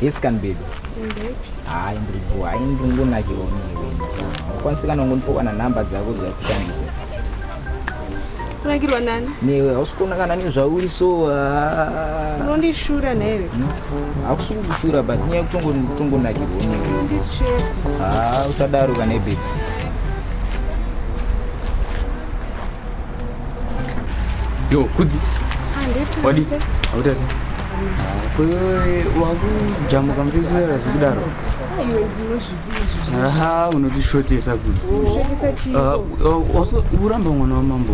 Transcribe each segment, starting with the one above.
Yes can baby. Hayi ndiripo, hayi ndingunakirwa muzviveni. Ukwanisa kana kundipokwa na number dzako dzakutambisa. Kunakirwa nani? Newe hausikona kana nezvauri so ah. unondishura newe. Hmm? Hakusi kukushura but nyaya kutongonakirwa newe. Ndichezi. Ah, usadaro kana baby. Yo, kudzi. Wadi. Hautasi. Kwewe wakujamuka mvizera zvekudaro. Aha, unotishotesa kudzi. Also uramba mwana wamambo.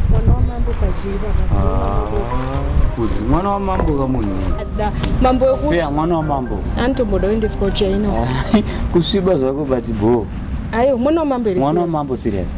Mwana wamambo pajiva. Ah, kudzi mwana wamambo kamunhu. Mambo wekuti. Fea mwana wamambo. Antomboda uendeswa uchaino. Kusviba zvako but boo. Ayo mwana wamambo here? Mwana wamambo serious.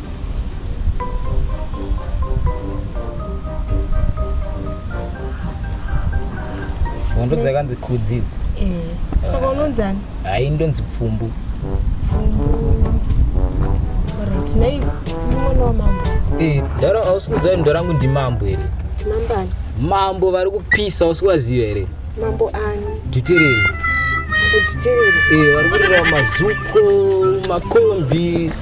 hondo dzakanzi kudzi idzi Eh, saka unonzani hayi ndonzi pfumbu orit nei uri mwana wamambo Eh, ndaro hausi kuziva kuti ndorangu ndimambo here timambani mambo vari kupisa hausi kuvaziva here mambo ani dutereri mambo titereri Eh, vari kurira mazuko makombi